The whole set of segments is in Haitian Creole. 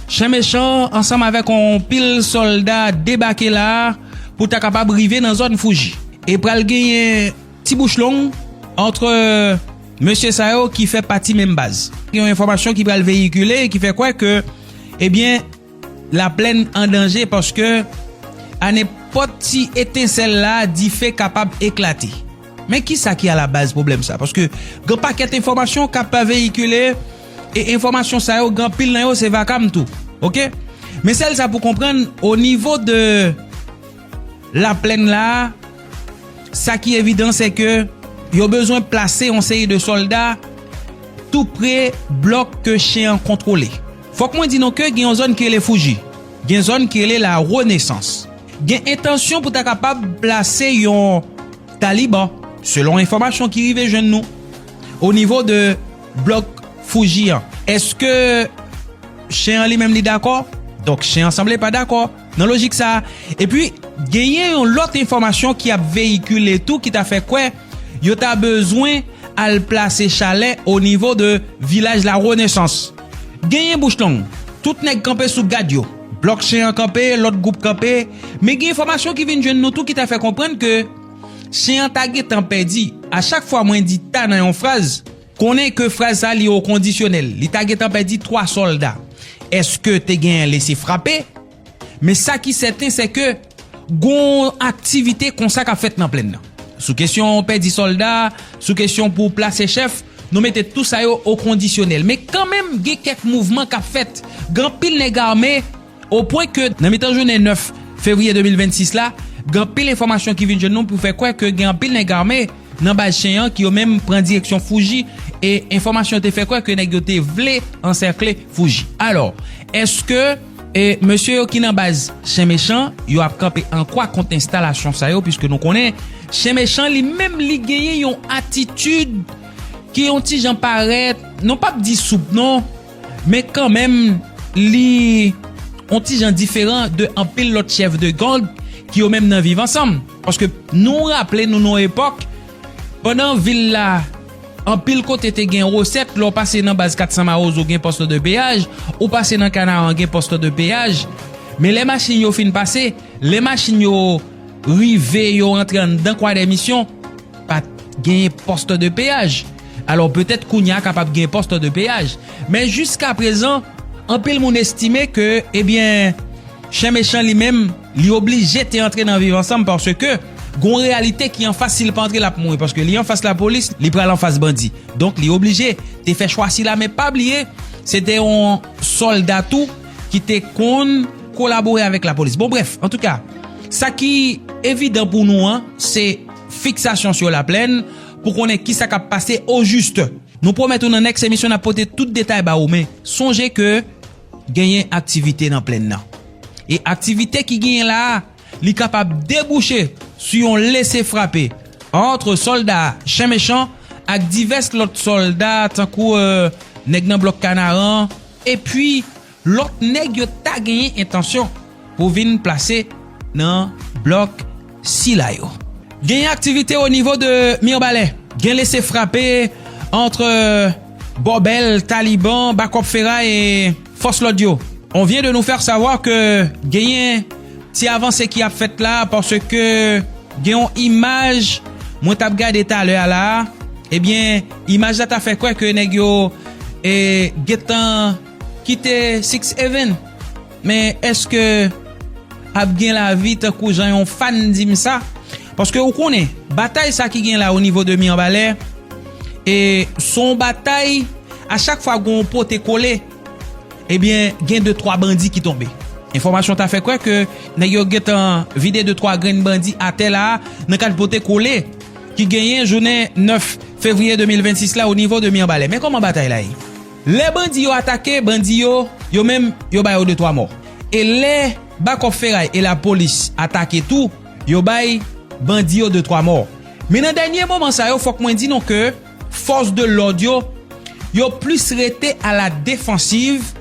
Chen mechan ansanm avèk on pil solda debake la pou ta kapab rive nan zòn Fuji. E pral genyen ti bouch long antre mesye sa yo ki fè pati menm baz. Gen yon enfòmasyon ki pral veyikile ki fè kwè ke ebyen la plèn an danje paske a nenpòt ti etensèl la dife kapab eklate. Men kisa ki alabaz pwoblèm sa? Paske gen yon pakèt enfòmasyon k ap veyikile e enfòmasyon sa yo gen anpil nan yo se vakam tou ok. Men sèl sa pou konprann o nivo de laplèn la sa ki evidan se ke yo bezwen plase yon seri de sòlda tou pre blòk ke chen an kontwole. Fòk mwen di nou ke gen yon zòn ki rele Fouji, gen zòn ki rele Larenesans. gen entansyon pou ta kapab plase yon Taliban, selon enfòmasyon ki rive jwenn nou, o nivo de blòk Fuji an. Eske Chen an li menm li dakò? Donk Chen an sanble pa dakò nan lojik sa. Epi, genyen yon lòt enfòmasyon ki ap veyikile tou ki ta fè kwè yo ta bezwen al plase chalè o nivo de Vilaj La Renaissance. Genyen bouch long, tout nèg kanpe sou gad yo. Blòk Chen an kanpe, lòt gwoup kanpe, men gen enfòmasyon ki vin jwenn nou tou ki ta fè konprann ke Chen an ta gentan pèdi. A chak fwa mwen di ta nan yon fraz, konnen ke fraz sa li o kondisyonèl. Li ta gentan pèdi 3 sòlda. Eske te genyen lese frape? Men sa ki sèten se ke gon aktivite konsa k ap fèt nan plenn nan. Sou kesyon pèdi sòlda, sou kesyon pou plase chèf, nou mete tou sa yo o kondisyonèl. Men kanmenm gen kèk mouvman k ap fèt. Gen anpil nèg ame o pwen ke nan mitan jounen 9 fevriye 2026 la, gen anpil enfòmasyon ki vin jwenn nou pou fè kwè ke gen anpil nèg ame nan baz Chen an ki yo menm pran direksyon Fuji e enfòmasyon te fè kwè ke nèg yo te vle ansèkle Fuji. Alò, èske. E mesye yo ki nan baz Chen Mechan yo ap kanpe an kwa kont enstalasyon sa yo piske nou konnen Chen Mechan li menm li genyen yon atitid ki yon ti jan parèt nou pap di soup non men kan menm li yon ti jan diferan de anpil lòt chèf de gang ki yo menm nan viv ansanm paske nou raple nou nan yon epòk pandan vil la Anpil kote te gen resèt lè w pase nan baz 400 mawozo gen poste de peyaj, ou pase nan kanaran gen poste de peyaj, men lè machin yo fin pase, lè machin yo rive yo antre anndan kwadèmisyon pat genyen poste de peyaj, alò petèt kounya kapab gen poste de peyaj, men jiska prezan anpil moun estime ke ebyen chen mechan li menm. Li oblije te antre nan viv ansanm paske gon reyalite ki anfas si li pa antre lap mouri paske li anfas lapolis li pral anfas bandi donk li oblije te fè chwa sila men pa bliye se te yon sòlda tou ki te konn kolabore avèk lapolis bon brèf antouka sa ki evidan pou nou an se fiksasyon sou laplèn pou konnen kisa kap pase o jis nou pwomèt ou nan nèks emisyon nap pote tout detay ba ou men sonje ke. genyen aktivite nan plenn nan. E aktivite ki genyen la a, li kapab debouche sou yon lese frape antre sòlda Chen Mechan ak divès lòt sòlda tankou Nèg nan Blòk Kanaran epi lòt nèg yo ta genyen entansyon pou vin plase nan blòk sila yo. Genyen aktivite o nivo de Mirbalè. Gen lese frape antre Bòbèl, Taliban, Bakòp Feray e fòs lòd yo. On vyen de nou fèr savwa ke genyen ti avanse ki ap fèt la paske gen on imaj mwen tap gade talè a la a. Ebyen imaj la ta fè kwè ke nèg yo gentan kite Six Even. Men eske ap gen lavi tankou jan yon fan di m sa? Paske ou konnen, batay sa ki gen la o nivo de Mirebalè, e se yon batay a chak fwa gen yon pote kole, ebyen gen de twa bandi ki tonbe. Enfòmasyon ta fè kwè ke nèg yo gen tan vide de twa grenn bandi atè la a nan kad pote kole ki genyen jounen 9 fevriye 2026 la o nivo de Mirebalè. Men kòman batay la ye? Lè bandi yo atake bandi yo, yo menm yo ba yo de twa mò. E lè bakòp feray e lapolis atake tou, yo bay bandi yo de twa mò. Men nan dènye moman sa yo fòk mwen di nou ke fòs de lòd yo, yo plis rete a la defansiv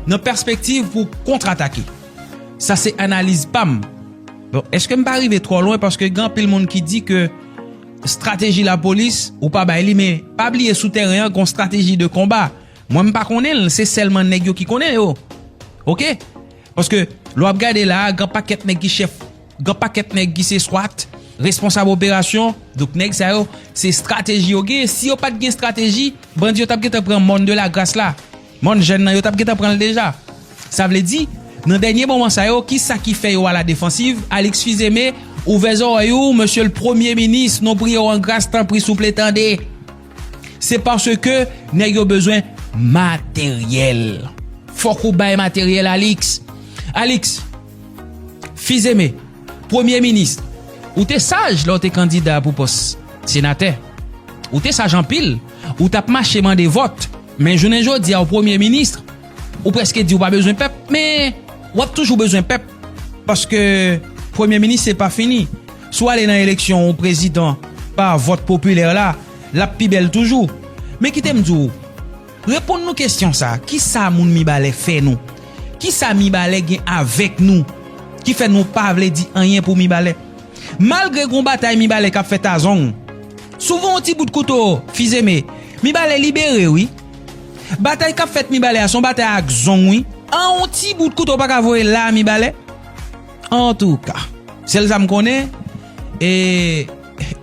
nan pèspektiv pou kontra atake. Sa se analiz pa m. Bon, eske m pa rive twò lwen paske gen anpil moun ki di ke Strateji lapolis, ou pa bay li men pa bliye sou tèren an gon strateji de konba. Mwen m pa konnen l, se sèlman nèg yo ki konnen yo. Ok. Paske lè w ap gade la a gen pakèt nèg ki chèf, gen pakèt nèg ki se swat, responsab operasyon, donk nèg sa yo se strateji yo genyen. Si yo pa t gen strateji, bandi yo t ap gentan pran mòn de lagras la. Mon jèn nan yo tap gentan pranl deja sa vle di nan dènye moman sa yo kisa ki fè yo a la defansiv Alix fils aimé ouvè zòrèy ou mesye l premye minis nou priye w an gras tanpri souple tande se paske nèg yo bezwen materyèl fòk ou bay materyèl Alix Alix fils aimé premye minis ou te saj lè w te kandida pou pòs senatè ou te saj anpil. Ou tap mache mande vòt, men jounen jodi a ou premye minis, ou preske di ou pa bezwen pèp, men wap toujou bezwen pèp, paske premye minis se pa fini, si w ale nan eleksyon ou prezidan pa vòt popilè la, lap pi bèl toujou. Men kite m di w, reponn nou kesyon sa, kisa moun mibalè fè nou? Kisa mibalè gen avèk nou ki fè nou pa vle di anyen pou mibalè? Malgre gwo batay Mibalè kap fè Tazong, souvan yon ti bout kouto fizeme, Mibalè libere wi. Batay kap fèt Mibalè a son batay ak Zong wi. An yon ti bout kouto paka voye la Mibalè? Antouka, sèl sa m konnen, e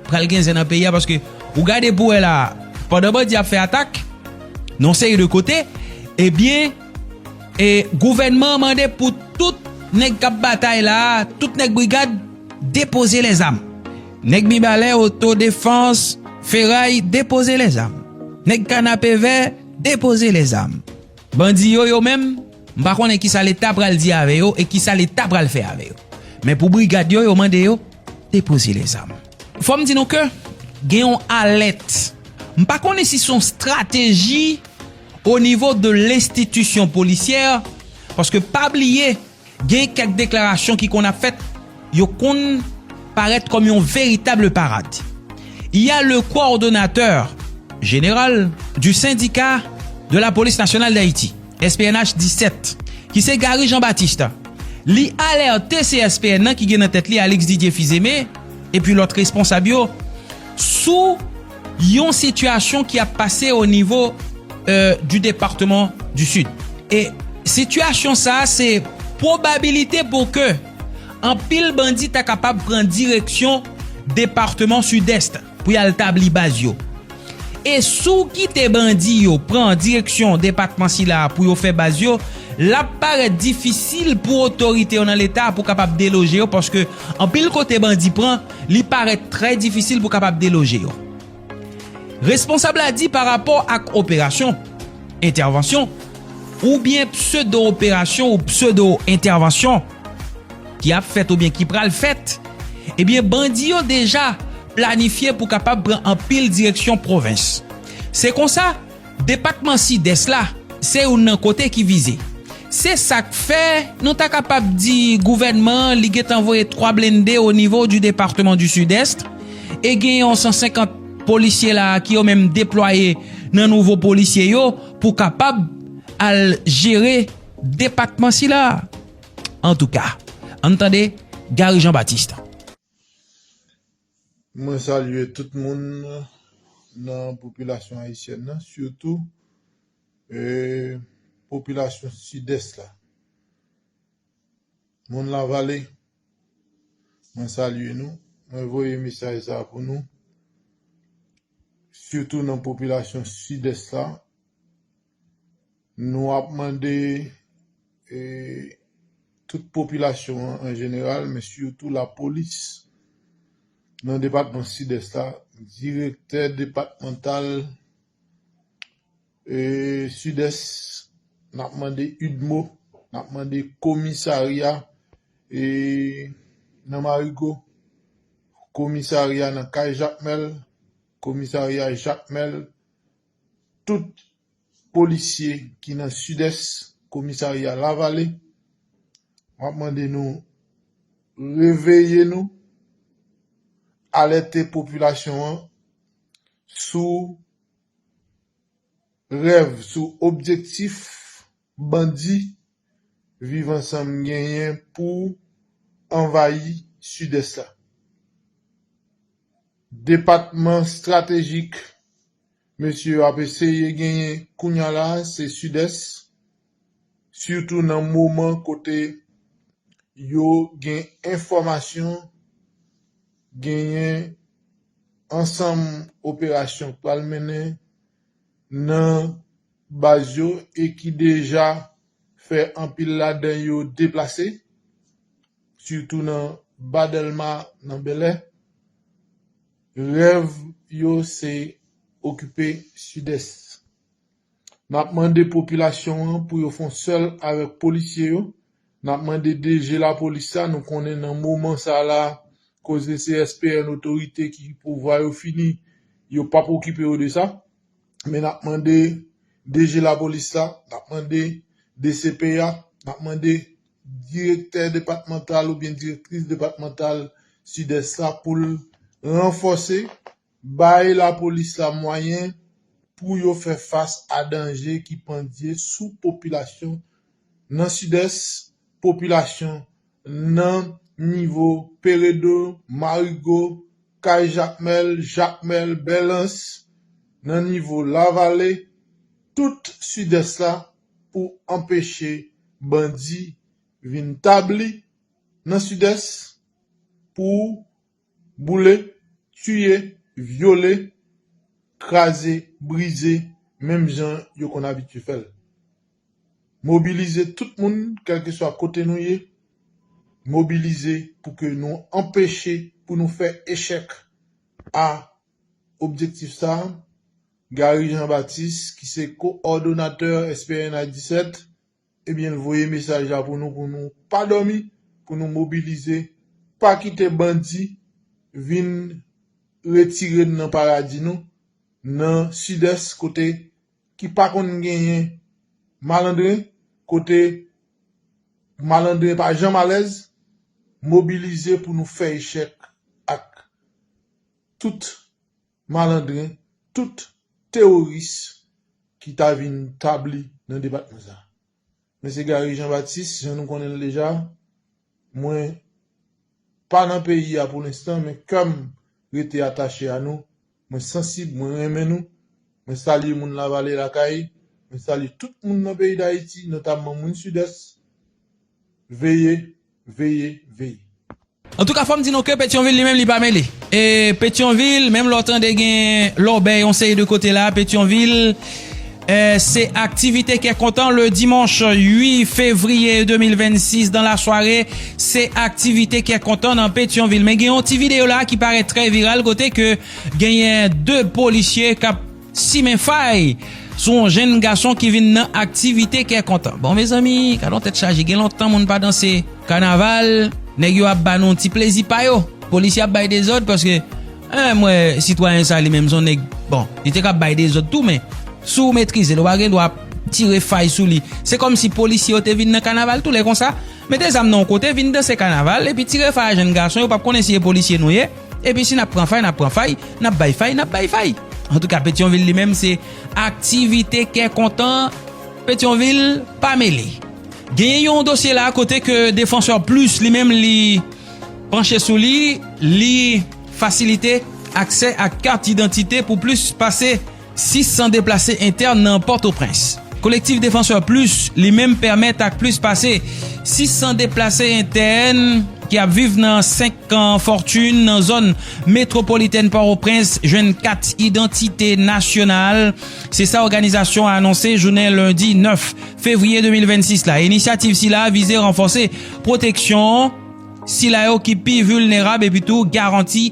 pral gen zen nan peyi a paske ou gade pou wè la, pandan bandi ap fè atak nan yon seri de kote, ebyen, E gouvènman an mande pou tout nèg k ap batay la, tout nèg brigad, depoze lèzam. Nèg Mibalè, Otodefans, Feray, depoze lèzam. Nèg Kanapevè, depoze lèzam. Bandi yo, yo menm, m pa konnen ki sa Leta pral di avè yo e ki sa Leta pral fè avè yo. Men pou brigad yo, yo mande yo depoze lèzam. Fò m di nou ke gen yon alèt. M pa konnen si s on strateji. o nivo de lenstitisyon polisyè, paske pa bliye gen kèk deklarasyon ki konn ap fèt, yo konn parèt kòm yon veritable parad. Y a le coordonnateur general du syndicat de la police nationale d'Haïti, SPNH 17, ki se Garry Jean Baptiste, li alerte CSPN nan ki gen nan tèt li Alix Didier Fils-Aimé, epi lòt responsab yo, sou. Yon sitiyasyon ki ap pase o nivo di departeman di Sid. E sitiyasyon sa a se pwobabilite pou ke anpil bandi ta kapab pran direksyon departeman Sidès pou y al tabli baz yo. E si w kite bandi yo pran direksyon depatman sila a pou yo fè baz yo, l ap parèt difisil pou otorite yo nan Leta pou kapab deloje yo paske anpil kote bandi pran, li parèt trè difisil pou kapab deloje yo. Responsab la di pa rapò ak operasyon, entèvansyon, oubyen pseudo operasyon ou pseudo entèvansyon ki ap fèt oubyen ki pral fèt, ebyen bandi yo deja planifye pou kapab pran anpil direksyon pwovens. Se konsa. Depatman Sidès la se youn nan kote ki vize. Se sa k fè, nou ta kapab di gouvènman an li gen tan voye 3 blende au niveau du département du Sud-Est e gen yon 150 polisye la a ki yo menm deplwaye nan nouvo polisye yo pou kapab al jere depatman sila a. Antouka, ann tande Gary Jean Baptiste. Mwen salye tout moun nan popilasyon ayisyèn nan sitou popilasyon sidès la. Moun lavale mwen salye nou, mwen voye mesaj sa pou nou sitou nan popilasyon sidès la. Nou ap mande tout popilasyon an an jeneral men sitou lapolis nan depatman Sidès la, direktè depatmantal Sidès, n ap mande udmo, n ap mande komisarya nan Marigo, komisarya nan Kay Jakmèl, komisarya Jakmèl, tout polisye ki nan sidès komisarya lavale map mande nou reveye nou alète popilasyon an sou rèv sou objektif Bandi Viv ansanm genyen pou anvayi Sidès la. Depatman stratejik mesye yo ap eseye genyen kounya la se Sidès, sitou nan moman kote yo gen enfòmasyon genyen ansanm operasyon k pral mennen nan. baz yo e ki deja fè anpil ladan yo deplase, sitou nan Ba Dèlma nan Bèlè, rèv yo se okipe Sidès. N ap mande popilasyon an pou yo fon sèl avèk polisye yo, n ap mande DG Lapolis la, nou konnen nan moman sa la koze CSPN otorite ki pouvwa yo fini, yo p ap okipe yo de sa, Men nap mande DG lapolis la, nap mande dcpa, nap mande direktè depatmantal oubyen direktris depatmantal Sidès la pou l ranfòse, bay lapolis la mwayen pou yo fè fas a danje ki pandye sou popilasyon nan Sidès, popilasyon. nan nivo Peredo, Marigo, Kay Jakmèl, Jakmèl, Bèlans, nan nivo Lavale, tout Sidès la pou anpeche bandi vin tabli nan Sidès pou Boule, tiye, vyole, kraze, brize menm jan yo konn abitye fè l. Mobilize tout moun kèlkeswa kote nou ye, mobilize pou ke nou anpeche, pou nou fè echèk a objektif sa a, Garry Jean Baptiste ki se ko-òdonatè SPNH 17. Ebyen l voye mesaj la pou nou pou nou pa dòmi, pou nou mobilize, pa kite bandi vin retire n nan paradi nou nan sidès kote ki pa konn genyen malandren, kote malandren pa janm alèz, mobilize pou nou fè echèk ak tout. malandren, tout teworis ki ta vin tabli nan depatman sa. Mwen se Garry Jean Baptiste, jan nou konnen l deja, mwen pa nan peyi a pou lenstan men kè m rete atache a nou, mwen sansib, mwen renmen nou, mwen salye moun Lavale Lakay, mwen salye tout moun nan peyi Dayiti, notamman moun Sidès, veye, veye, veye. Antouka fòm di nou ke Petyonvil li menm li pa mele. E Petyonvil menm lè w tande gen lòbèy yon seri de kote la Petyonvil se aktivite kè kontan le dimanche 8 fevrier 2026 dans la soirée se aktivite kè kontan nan Petyonvil men gen yon ti video la ki parèt trè viral kote ke genyen 2 polisye kap Simen fay sou yon jenn gason ki vin nan aktivite kè kontan. Bon mezanmi gade yon tèt chaje gen lontan moun pa danse kanaval nèg yo ap ba nou ti plezi pa yo polisye ap bay dezòd paske eh m wè sitwayen sa li menm son nèg bon li te ka bay dezòd tou men si w metrize l ou pa gen dwa ap tire fay sou li se kòm si polisye yo te vin nan kanaval tou lè konsa mete zam nan yon kote vin danse kanaval epi tire fay a jenn gason yo pap konnen si e polisye nou ye. Epi si n ap pran fay, n ap pran fay, n ap bay fay, n ap bay fay. Antouka Petyonvil li menm se aktivite kè kontan Petyonvil pa mele. Genyen yon dosye la kote ke Défenseurs Plus li menm li panche sou li, li fasilite aksè ak kat idantite pou plis pase. 600 deplase entèn nan Pòtoprens. Kolektif Défenseurs Plus li menm pèmèt ak plis pase 600 deplase entèn ki ap viv nan 5 kan Fortune nan zòn metwopolitèn Pòtoprens jwenn kat idantite nasyonal, se sa òganizasyon an anonse jounen lendi 9 fevriye 2026 la. Inisyativ sila vize ranfòse pwoteksyon sila yo ki pi vilnerab epitou garanti.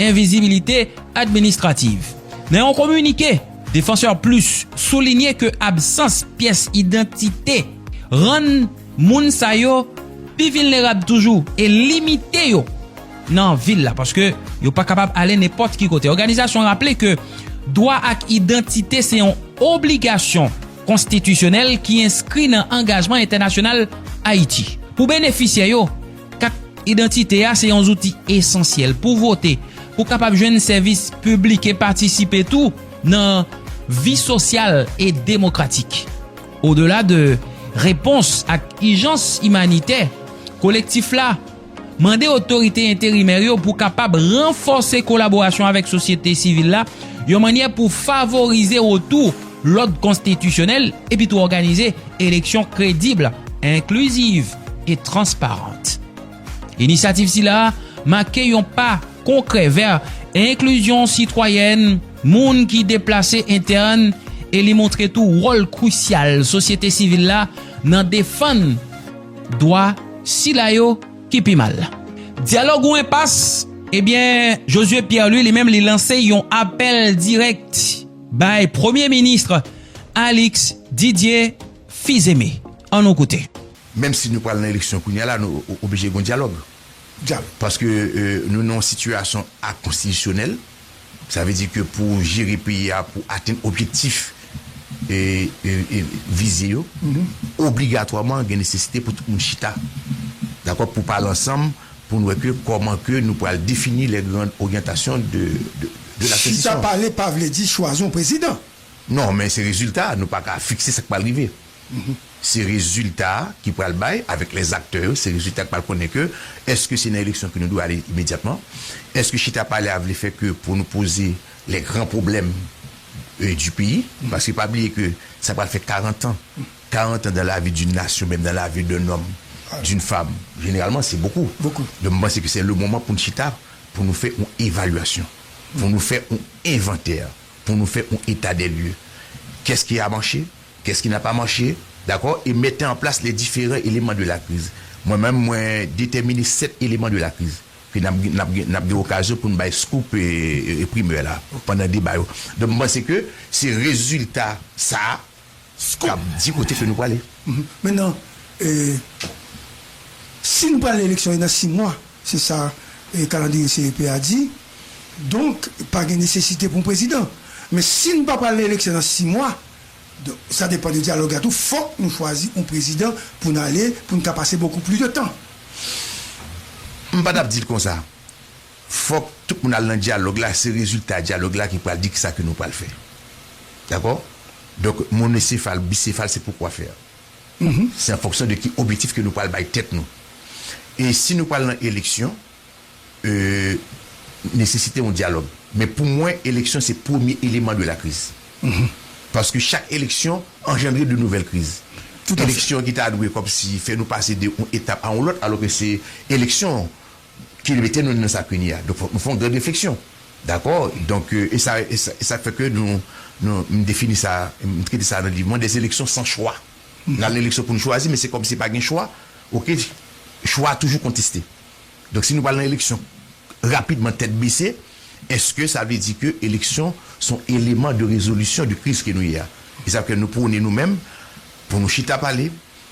Envizibilite administrativ. Nan yon kominike, Défenseurs Plus soulinye ke absans pyès idantite rann moun sa yo pi vilnerab toujou e limite yo nan vil la paske yo pa kapab ale nenpòt ki kote. Òganizasyon raple ke dwa ak idantite se yon obligasyon konstitisyonèl ki enskri nan angajman entènasyonal Ayiti pou benefisyè yo Kat idantite a se yon zouti esansyèl pou vote, pou kapab jwenn sèvis piblik e patisipe tou nan vi sosyal e demokratik. Odela de repons ak ijans imanitè, Kolektif la mande otorite enterimè yo pou kapab ranfòse kolaborasyon avèk sosyete sivil la yon mannyè pou favorize retou lòd konstitisyonèl epi tou òganize eleksyon kredib, enkliziv e transparant. Inisyativ sila a make yon pa konkrè vè enklizyon sitwayèn moun ki deplase entèn e li montre tou wòl krisyal sosyete sivil la nan defann dwa sila yo ki pi mal. Dyalòg ou enpas? Ebyen, Josué Pierre-Louis li menm li lanse yon apèl dirèk. bay premye minis Alix Didier Fils-Aimé. An nou koute. Menm si nou pral nan eleksyon kounye a la, nou oblije gen yon dyalòg. Paske nou nan yon sitiyasyon akonstitisyonèl. Sa vle di ke pou jere peyi a, pou atenn objektif vize yo, obligatwaman gen nesesite pou tout moun chita, dakò, pou pale ansanm. pou n wè ke kòman ke nou pral defini les grandes orientations de la transition. Chita pale pa vle di chwazi yon prezidan. Non, men se rezilta a, nou pa ka fikse sa k pral rive. Se rezilta a ki pral bay avèk les acteurs yo, se rezilta a ki pral konnen ke èske se nan eleksyon ke nou dwe ale imedyatman, èske chita pale a vle fè ke pou nou poze les grands problèmes du pays, paske pa bliye ke sa pral fè 40 ans 40 ans dans la vie d'une nation menm dans la vie d'un homme, d'une femme généralement se bokou donk m panse ke se le moman pou n chita pou nou fè yon evalyasyon pou nou fè yon envantè pou nou fè yon eta dè lye kès ki a mache kès ki na pa mache dakò e mete an plas le diferan eleman de la kriz mwen menm mwen detèmine 7 eleman de la kriz ke nap gen nap gen nap gen okazyon pou n bay scoop e primè la pandan deba yo donk m panse ke se rezilta sa. k ap di kote ke nou prale. Mennan, si nou prale eleksyon e nan 6 mwa, se sa kalandriye CEP a di, donk pa gen nesesite pou yon prezidan. Men si nou pa prale eleksyon nan 6 mwa, sa depan de dyalòg la tou, fòk nou chwazi yon prezidan pou n ale, pou n ka pase bokou plis de tan. M pa t ap di l konsa. Fòk tout moun al nan dyalòg la, se rezilta dyalòg la ki pral di kisa ke nou pral fè. Dakò? Donk monosefal, bisefal se pou kwafè a. Se an fonksyon de ki obyetif ke nou pral bay tèt nou. E si nou pral nan eleksyon, e nesesite yon dyalòg. Men pou mwen eleksyon se premye eleman de la kriz. Paske chak eleksyon anjandre de nouvèl kriz. Eleksyon ki ta dwe kòmsi fè nou pase de yon etap a yon lòt alò ke se eleksyon. ki mete nou nan sa kounye a. Donk fòk nou fè yon gran refleksyon. Dakò? Donk e sa e sa k fè ke nou nou m defini sa m trete sa nan liv mwen, des élections sans choix. N al nan eleksyon pou n chwazi men se kòmsi pa gen chwa ok. Chwa a toujou konteste. Donk si nou pral nan eleksyon rapidman tèt bese èske sa vle di ke eleksyon s on eleman de rezolisyon de kriz ke nou ye a? E sa k fè nou pwone nou menm pou nou chita pale,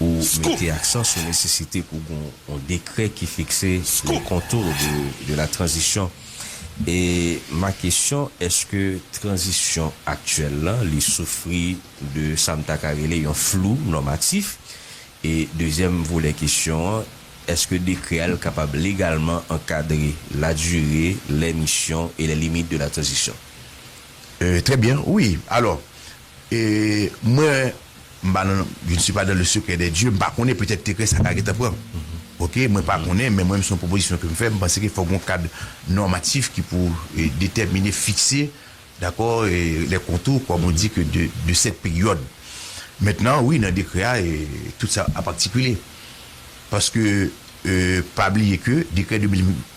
ou mete aksan sou nesesite pou gen yon dekrè ki fikse les contours de la transition e ma kesyon eske tranzisyon aktyèl lan li soufri de sa m ta ka rele yon flou nòmatif e dezyèm volè kesyon an eske dekrè a l kapab legalman ankadre la dure les missions et les limites de la transition? Trè byen wi alò. E mwen m pa nan je ne suis pas dans le secret des dieux m pa konnen petèt dekrè sa ka gentan pran ok mwen pa konnen men mwen se yon pwopozisyon ke m fè m panse ke fòk gon kad nòmatif ki pou detèmine fikse dakò lè kontou kòm on di ke de sèt peryòd mentnan wi nan dekrè a tout sa ap aktikile paske pa bliye ke dekrè 2000.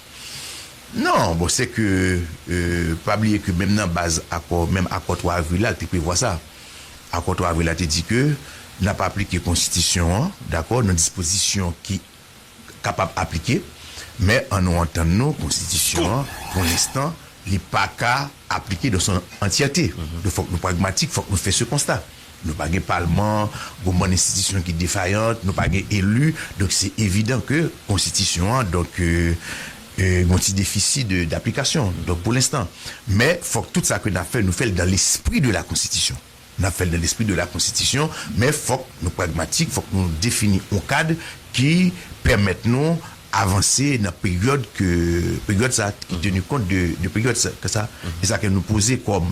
Non, bon se ke pa bliye ke menm nan baz akò, menm akò 3 avril la li te prevwa sa. Akò 3 avril la te di ke n ap aplike konstitisyon an, dakò, nan dispozisyon ki kapab aplike, men an nou antann nou konstitisyon an pou lenstan li pa ka aplike dan son antyète. Donk fòk nou pragmatik, fòk nou fè se konsta. Nou pa gen palman, gon bann enstitisyon ki defayant, nou pa gen elu, donk se evidan ke konstitisyon an donk gon ti defisi de daplikasyon, donk pou lenstan. Men fok tout sa ke nap fè nou fèl dan lespri de la konstitisyon. Nap fèl dan lespri de la konstitisyon, men fok nou pragmatik, fok nou defini on kad ki pèmèt nou avanse nan peryod ke peryod sa ki tenu kont de peryod sa. E sa ke nou poze kom.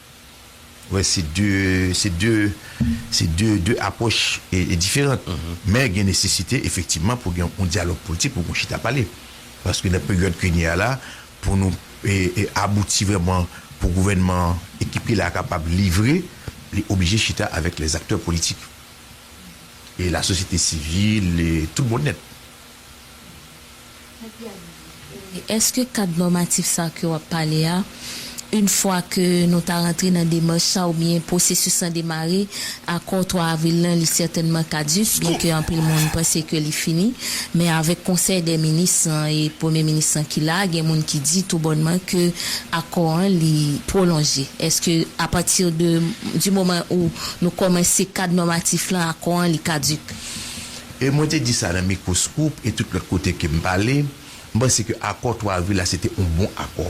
Wè se 2, se 2, se 2, 2 apwòch diferant. Men gen nesesite efektivman pou gen yon dyalòg politik, pou gen yon chita pale. Paske nan peryòd kounye a la, pou nou abouti vrèman pou gouvènman an, ekip li la a kapab livre, li oblije chita avèk lèzaktè politik. E lasosyete sivil, e tout bon nèt. Eske kad nòmatif sa ke wap pale a, yn fwa ke nou ta rantre nan demach sa oubyen pwosesis lan demare, akò 3 avril lan li sètènman kaduk, byen ke anpil moun panse ke li fini, men avèk konsèy dè minis lan e premye minis lan ki la, gen moun ki di tou bònman ke akò an li pwolonje. Eske a pati de, di moman ou nou kòmanse kad nòmatif lan, akò an li kaduk? E mwen te di sa nan mikwo Scoop e tout lòt kote ke m pale, m panse ke akò 3 avril la se te yon bon akò.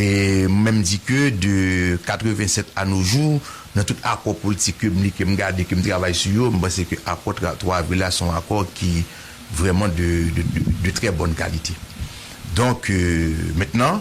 E m menm di ke de 87 a no jou, nan tout akò politik ke m li, ke m gade, ke m travay sou yo, m panse ke akò 3 avril la se yon akò ki vrèman de trè bòn kalite. Donk, mentnan,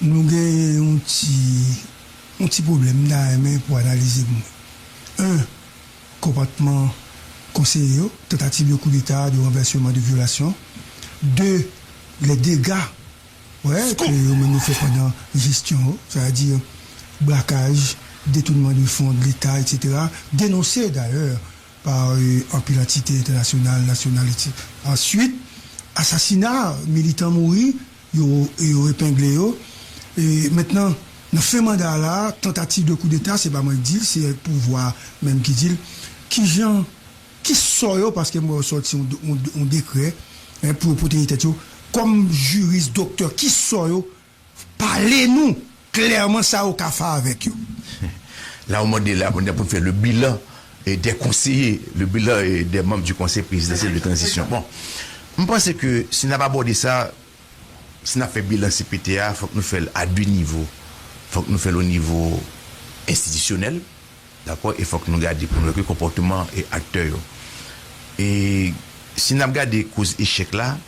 Nou gen yon ti yon ti pwoblèm m ta renmen pou analize pou mwen. 1, Konpòtman konseye yo, tantativ de koudeta, de ranvèseman, de vyolasyon. 2, lè dega wè ke yo menm yo fè pandan jesyon yo, sa vle di brakaj, detounman de fon de leta etsetera, denonse dayè pa anpil antite entènasyonal, nasyonal etc. Ansuit, asasina militan mouri Yo yo epengle yo. E mentnan nan fen manda a la a, tantativ de koudeta, se pa mwen k di l, se pouvwa a menm ki di l, ki jan, ki sò yo, paske m wè yo sòti yon yon yon dekrè pou yo pwoteje tèt yo, kòm jiris, doktè, ki sò yo pale nou? Klèman sa ou ka fè avèk yo. La ou mande la kounye a pou n fè le bilan des conseillers, le bilan des membres du conseil présidentiel de transition. Bon, m panse ke si n ap abòde sa, si n ap fè bilan cpt a, fòk nou fè l a de nivo. Fòk nou fè l o nivo enstitisyonèl, dakò, e fòk nou gade pou nou wè ki konpòteman aktè yo. E si n ap gade koz echèk la.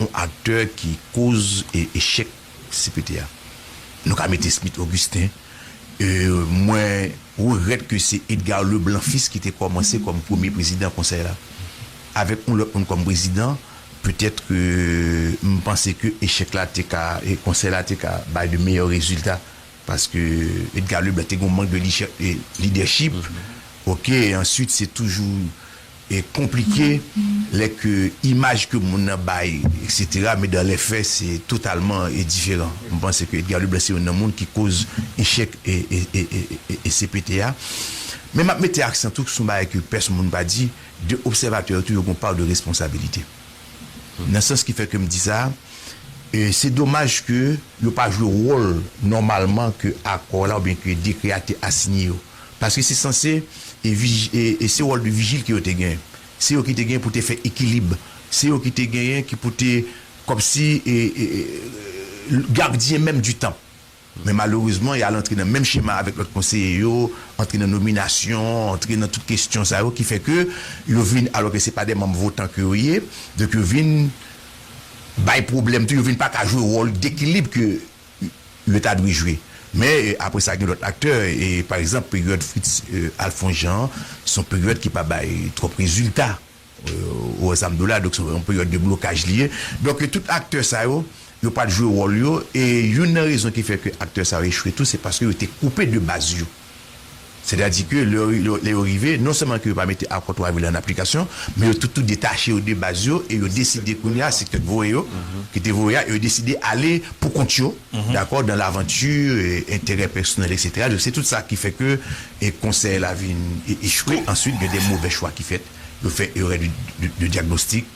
yon aktè ki koz echèk cpt a. Nou ka mete Smith Augustin, mwen regrèt ke se Edgar Leblanc Fils ki te kòmanse kòm premye prezidan konsèy la. Avèk yon lòt moun kòm prezidan, petèt ke m panse ke echèk la te ka, konsèy la te ka bay de meyè rezilta paske Edgar Leblanc te gen yon mank de lidèchip. Ok, answit se toujou. konplike lè ke imaj ke moun nan bay eksetera men dan lè fè se totalman diferan mwen panse ke Edgar Leblanc se youn nan moun ki koz echèk CPT a men map mete aksan tou sou yon bagay ke pèsonn moun pa di de obsèvatè yo tou yo gen yon pa de responsabilite nan sans ki fè kem di sa se domaj ke yo pa jwe wòl nòmalman ke akò la oubyen ke dekrè a te asinye yo. Paske se sanse e se wòl de vijil ke yo te genyen. Se yo ki te genyen pou te fè ekilib. Se yo ki te genyen ki pou te kòmsi gardyen menm di tanp. Men malerezman y al antre nan menm chema avèk lòt konseye yo, antre nan nominasyon, antre nan tout kestyon sa yo ki fè ke yo vin alò ke se pa de manm votan ke yo ye, donk yo vin bay pwoblèm tou, yo vin pa ka jwe wòl dekilib ke yo ta dwe jwe. Men, apre sa gen lòt aktè. Pa egzanp, peryòd Fritz Alphonse Jean an, se yon peryòd ki pa bay twòp rezilta o Ensanm Dola. Donk, se yon peryòd de blokaj li ye. Donk, tout aktè sa yo, yo pa t jwe wòl yo. E youn nan rezon ki fè ke aktè sa yo echwe tou, se paske yo te koupe de baz yo. Sètadi ke lè yo rive, non sèlman ke yo pa mete Akò 3 vil an aplikasyon, men yo toutou detache yo de baz yo e yo deside kounye a, se kèk voye yo, ki te voye a, e yo deside ale pou kont yo, dakò, dan lavanti, enterè pèsonèl eksetera. Donk se tout sa ki fè ke Konsèy la vin echwe. Answit gen de movè chwa ki fèt, yo fè erè de dyagnostik.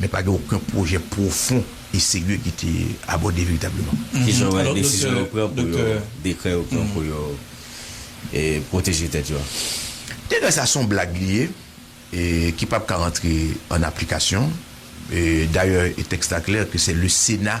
Men pa gen oken pwojè pwofon e serye ki te abòde veritableman. Ki jan w wè desizyon yo pran pou yo, dekrè yo pran pou yo pwoteje tèt yo a? Dekrè sa a se yon blag li ye e ki pap ka rantre an aplikasyon. Dayè tèks la klè ke se le Sena.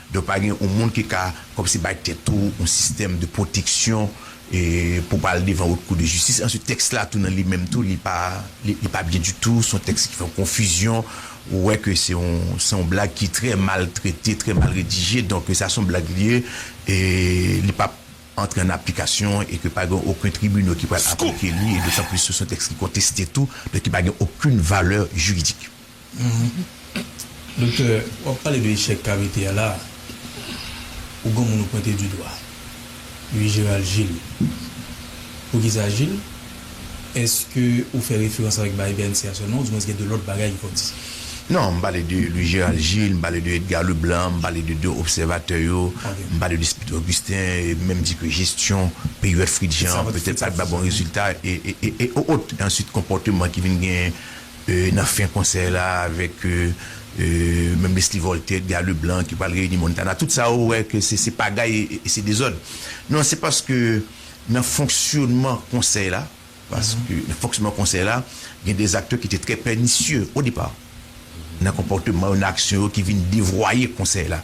Donk pa gen yon moun ki ka kòmsi bay tèt ou yon sistèm de pwoteksyon pou w pa al devan Haute Cour de Justice. Answit tèks la tou nan li menm tou li pa li pa byen ditou, s on tèks ki fè yon konfizyon, ou wè ke se yon se yon blag ki trè mal trete, trè mal redije. Donk sa s on blag li ye e li p ap antre an aplikasyon e ke pa gen oken tribinal ki pral aplike li e dotan plis tou s on tèks ki konteste tou donk ki pa gen okenn valè jiridik. Humm doktè wap pale de echèk kavite a la ou gon moun ou pwente du dwa ui Gerald Gilles poukisa Gilles eske ou fè referans avèk Biden se a sèlman ou di mwen gen de lòt bagay ki fòk di. Non, m pale de Louis Gérald Gilles, m pale de Edgar Leblanc, m pale de 2 obsèvatè yo, m pale de Spido Augustin, m menm di ke jesyon peryòd Fritz Jean an petèt pat bay bon rezilta e e e e o ot e answit konpòteman ki vin gen Nan fen konsè la avèk Mèm Leslie Voltaire, Edgar Leblanc ki pral reyini Montana, tout sa ou wè ke se pagay e se dezòd. Non se paske nan fonksyonman konsèy la, paske nan fonksyonman konsèy la gen de aktè ki te trè pènisye o depa nan konpòteman yo, nan aksyon yo ki vin devwaye konsèy la.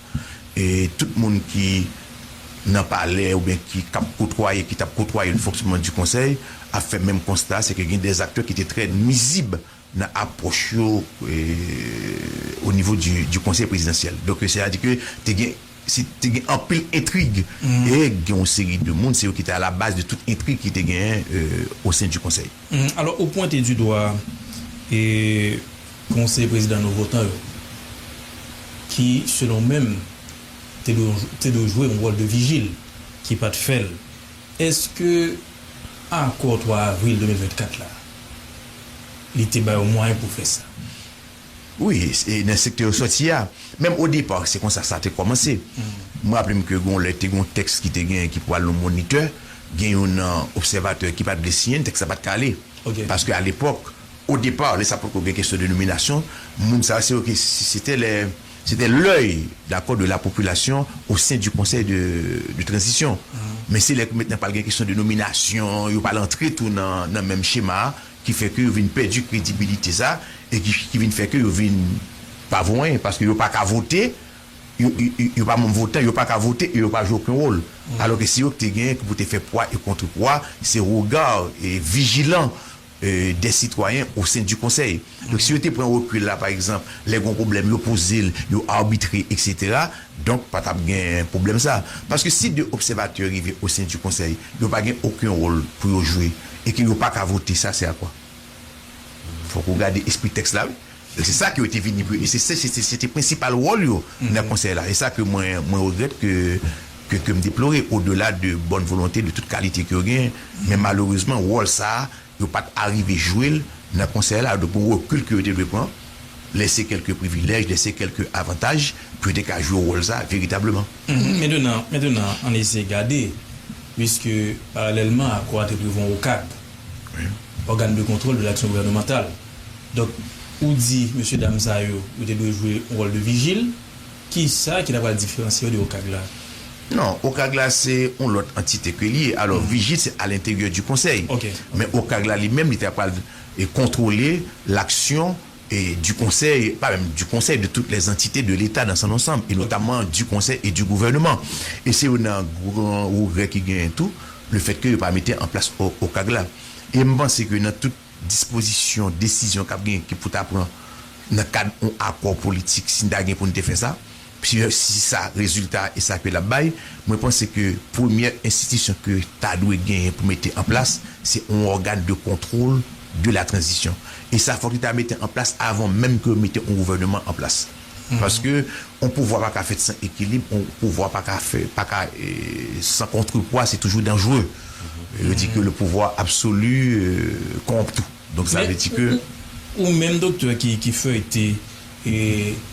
E tout moun ki Nan palè oubyen ki kap kotwaye ki tap kotwaye le fonksyonman di konsèy ap fè menm konsta se ke gen dè aktè ki te trè nwizib nan apwòch yo o nivo di konsèy prezidansyèl donk se a di ke te gen si te gen anpil entrig e gen yon seri de moun se yo ki te alabaz de tout entrig ki te genyen o sen di konsèy. Alò ou pwente di dwa e. Bon se prezidan nou votan yo ki selon w menm te dwe jwe yon wòl de vijil ki pat fè l eske akò 3 avril 2024 la li te ba yo mwayen pou fè sa? Wi e nan sektè yo sòti a menm o depa se konsa sa te kòmanse m raple m ke gon lè te gon tèks ki te gen ki pou al nan monitè gen yon nan obsèvatè ki pat vle siyen l tèks la pat ka ale paske alepòk O départ, lè sa potko gen kesyon de nominasyon, moun sa se yo ki sete lè sete l'oeil dakò de la popilasyon o sen di konsèy de de tranzisyon. Men se lè ke mentnan pral gen kesyon de nominasyon, yo pral antre tou nan nan menm chema a ki fè ke yo vin pèdi kredibilite sa e ki ki vin fè ke yo vin pa vo anyen paske yo pa ka vote, yo yo pa manm votan, yo pa ka vote e yo pa jwe oken wòl. Alò ke se yo ki te gen pou te fè pwa e kontre pwa, se regard e vijilan. des citoyens au sein du Conseil. Donk si yo te pran rekil la pa egzanp lè gon pwoblèm yo poze l, yo arbitre eksetera, donk pa t ap gen pwoblèm sa. Paske si 2 obsèvatè rive au sein du Conseil, yo pa gen oken wòl pou yo jwe e ke yo pa ka vote sa sè a kwa? Fòk ou gade espri tèks la wi. E se sa ke yo te vini pou yo, e se se se se te prensipal wòl yo nan konsèy la. E sa ke mwen mwen regrèt ke ke ke m deplore o dela de bòn volonte de tout kalite ke yo genyen. Men malerezman wòl sa a yo pa t arive jwe l nan konsèy la. Donk gon rekil ke yo te dwe pran, lese kèlke privilèj, lese kèlke avantaj pou yo te ka jwe wòl sa a veritableman. Mentenan mentenan ann eseye gade, puiske paralèlman a Croix te prevwa Okap, Organe de contrôle de l'action gouvernementale, Donk, ou di mesye dam sa yo, yo te dwe jwe yon wòl de vijil. Ki sa ki ta pral diferansye yo de OCAG la? Non, OCAG la se yon lòt antite ke li ye. Alò, vijil se alenteryè di konsèy. Men OCAG la li menm li ta pral kontwole laksyon di konsèy, pa menm di konsèy, de tout lè antite de leta dan san ansanm e notamman di konsèy e di gouvèneman. E se youn nan gran regrè ki genyen tou, le fèt ke yo pa mete an plas OCAG la. E m panse ke nan tout. dispozisyon, desizyon k ap gen ki pou ta pran nan kad yon akò politik si n ta gen pou n te fè sa, si sa rezilta e sa ke l ap bay, mwen panse ke premyè enstitisyon ke ta dwe genyen pou mete an plas se yon ògàn de kontwol de la tranzisyon. E sa fòk li ta mete an plas avan menm ke yo mete yon gouvèneman an plas. Paske yon pouvwa pa ka fèt san ekilib, yon pouvwa pa ka fè, pa ka san kontrepwa, se toujou danjre. Yo di ke le pouvwa absoli kowonp tou. Donk sa vle di ke. Ou menm doktè ki feyte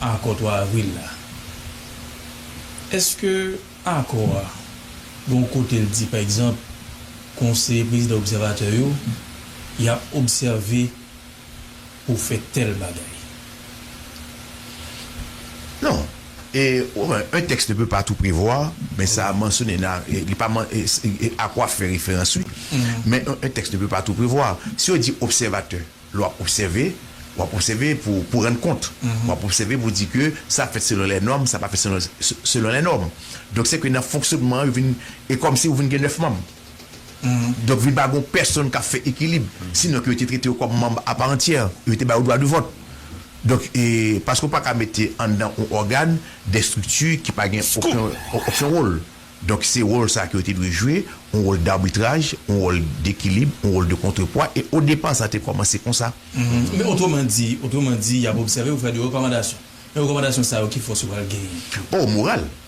akò 3 avril la, eske akò a gon kote l di pa egzanp konseye prezidan obsèvatè yo y ap obsève pou fè tèl bagay. Non. E, ou wè, un texte ne peut pas tout prévoir, men sa a mansyone nan, li pa man, Acroix fè referans wi, men un texte ne peut pas tout prévoir. Si yo di obsèvatè, lè w ap obsève, w ap obsève pou w rann kont, w ap obsève pou w di ke sa fèt selon lè nòm, sa pa fèt selon lè nòm. Donk se ke nan fonksyonman an yo vin, e kòmsi ou vin gen 9 manm. Donk vin pa gon pèsonn k ap fè ekilib. Sinon ke yo te trete ou kòm manb aparantyè. Yo te bay ou dwa de vòt. Donk, paske ou pa ka mete anndan on ògàn de estrikti ki pa gen oken wòl. Donk se wòl sa a ke yo te dwe jwe, on wòl darbitraj, on wòl dekilib, on wòl de kontrepwa. E odepa sa te kòmanse konsa. Men otreman di, otreman di y ap obsève ou fè de rekòmandasyon. Men rekòmandasyon sa yo ki fòs yo pral genyen? Oh, moral!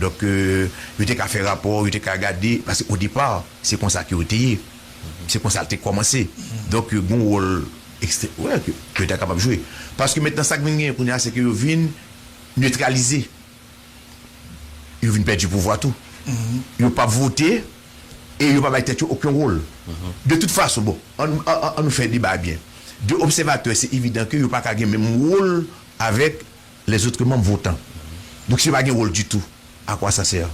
Donk, yo te ka fè rapò, yo te ka gade, paske o depa, se konsa ke yo te ye. Se konsa l te kòmanse. Donk, gen yon wòl ekstrè, wè, ke yo ta kapab jwe. Paske mentnan sa k vin genyen kounye a, se ke yo vin netralize. Yo vin pèdi pouvwa tou. Yo pa p vote e yo pa bay tèt yo oken wòl. De tout fason, bon, an, an, an nou fè deba a byen. De obsèvatè, se evidan ke yo pa ka gen menm wòl avèk Les autres membres votants. Donk si yo pa gen wòl ditou, a quoi ça sert?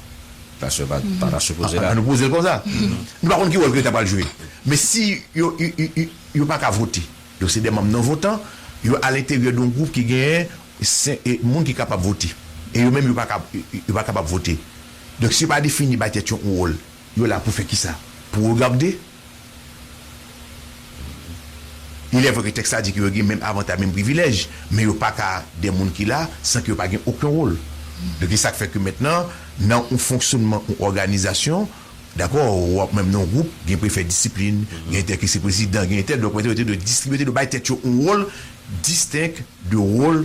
Sa se pa ta sipoze la. An nou poze l konsa. Nou pa konn ki wòl ke yo ta pral jwe. Men si yo yo pa ka vote, donk se de manm non votan, yo alenteryè doun gwoup ki genyen senk moun ki kapab vote. E yo menm yo pa ka yo pa kapab vote. Donk si yo pa defini bay tèt yo oun wòl, yo la pou fè kisa? Pou regabde? Ilè vre ke tèks la di ke yo gen menm avantaj, menm privilèj, men yo pa ka de moun ki la san ke yo pa gen oken wol. Donk e sak fè ke mentnan nan yon fonksyonman yon òganizasyon, dakò, ou ap menm nan yon gwoup, gen prefè disiplin, gen entè ki se prezidan, gen entè, donk yo te dwe distribye, yo te dwe bay tèt yo yon wol distenk de wol.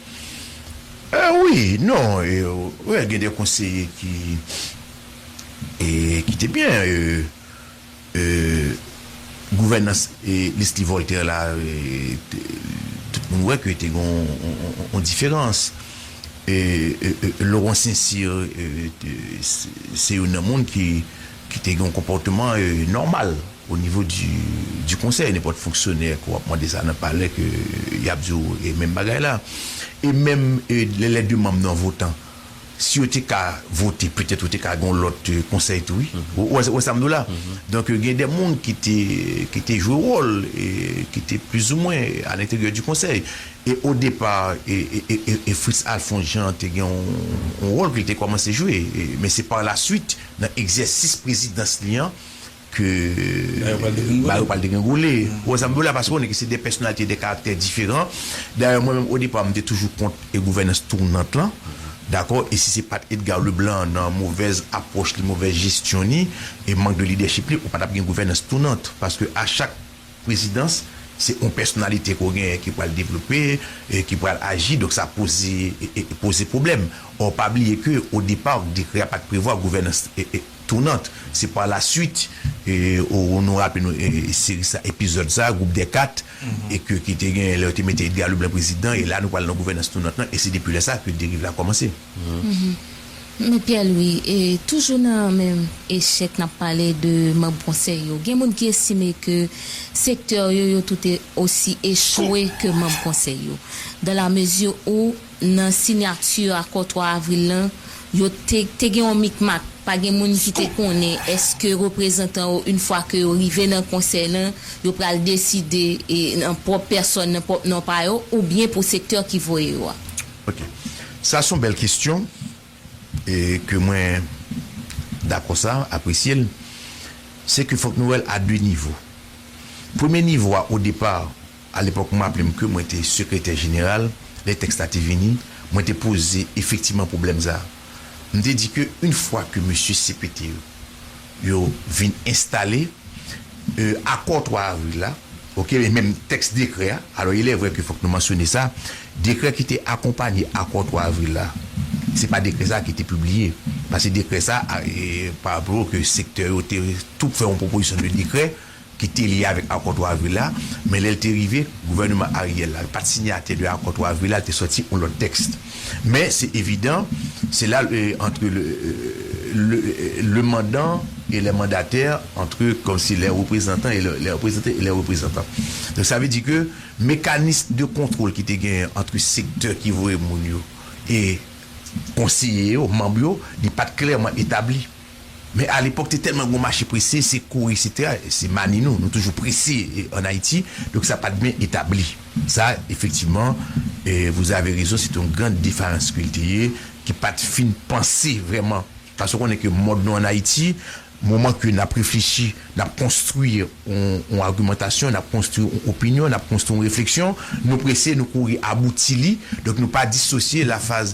Wi, non, wè gen de konseye ki ki te byen gouvènans Leslie Voltaire la tout moun wè ke te gen yon diferans Laurent Saint-Cyr se youn nan moun ki te gen yon konpòteman nòmal. O nivo di konsèy nenpòt fonksyonè ke w ap mande sa nan palè ke y ap di w e menm bagay la. E menm lè lè de manm nan votan si yo te ka vote petèt ou te ka gen yon lòt konsèy tou wi. Ou wè wè sa m di w la? Donk gen de moun ki te ki te jwe wòl e ki te plizoumwen a lenteryè di konsèy. E o depa e e Fritz Alphonse Jean te gen yon wòl ke l te kòmanse jwe. Men se pa la swit nan egzèsis prezidans li an ke bagay yo pral degringole. Ou wè sa m vle di w la? Paske ou konnen ke se 2 pèsonalite, 2 karaktè diferan. Dayè mwen menm odepa m te toujou kont gouvènans tounant lan, dakò? E si se pa t Edgar Leblanc nan movèz apwòch li, movèz jesyon ni, e mank de lidèchip li, ou pa t ap gen gouvènans tounant. Paske a chak prezidans, se yon pèsonalite ke w genyen ki pral devlope, ki pral aji, donk sa poze poze pwoblèm. Ò pa bliye ke odepa dekrè a pa t prevwa gouvènans. Tounant se pa la swit ou nou raple nou seri sa epizòd sa gwoup dè 4 e ke ki te genyen lè yo te mete Edga Leblan prezidan e la nou pral nan gouvènans tounant lan e se depi lè sa ke deriv la kòmanse. Me Pierre Louis, toujou nan menm echèk nap pale de manb konsèy yo, gen moun ki estime ke sektè yo yo toute osi echwe ke manb konsèy yo, dan la mezi ou. Nan sinyati akò 3 avril lan, yo te te gen yon mikmak, pa gen moun ki te konnen èske reprezantan yo yn fwa ke yo rive nan konsèy lan, yo pral deside an pwòp pèsòn, nan pwòp non pa yo, oubyen pou sektè ki voye yo a. Ok. Sa son bèl kestyon e ke mwen dakò sa, apresye l. Se ke fòk nou wè l a 2 nivo. Premye nivo a, o depar, Alepòk m raple m ke mwen te sekretè jeneral lè tèks la te vini, mwen te poze efektivman pwoblèm sa a. M te di ke yon fwa ke mesye CPT yo, yo vin enstale, e akò 3 avril la, ok, e menm tèks dekrè a, alò ilè vrè ke fòk nou mansyone sa, dekrè ki te akonpanye akò 3 avril la, se pa dekrè sa a ki te pibliye, pase dekrè sa a, e pa blo ke sektè yo te tou fè yon pwopozisyon de dekrè, ki te lye avèk akò 3 avril la, men lè l te rive, gouvèneman Ariel la pa t sinyatè de akò 3 avril la, l te sòti yon lòt tèks. Men se evidan, se la antre le mandan e le mandatè, antre kòmsi le reprezantan e le reprezante e le reprezantan. Donk sa vle di ke mekanis de kontwòl ki te genyen antre sektè ki voye moun yo e konseye yo, manm yo, li pa t klèman etabli. Men a lepòk te tèlman gen yon mache prese, se kouri eksetera, se mani nou, nou toujou prese an Ayiti, donk sa pat byen etabli. Sa efektivman vous avez raison c'est une grande defaillance ke l te ye, ki pat fin panse vrèman, paske w konnen ke mòd nou an Ayiti, moman ke n ap reflechi, n ap konstwi yon agimantasyon, n ap konstwi yon opinyon, n ap konstwi yon refleksyon, nou prese, nou kouri abouti li, donk nou pa disosye la faz.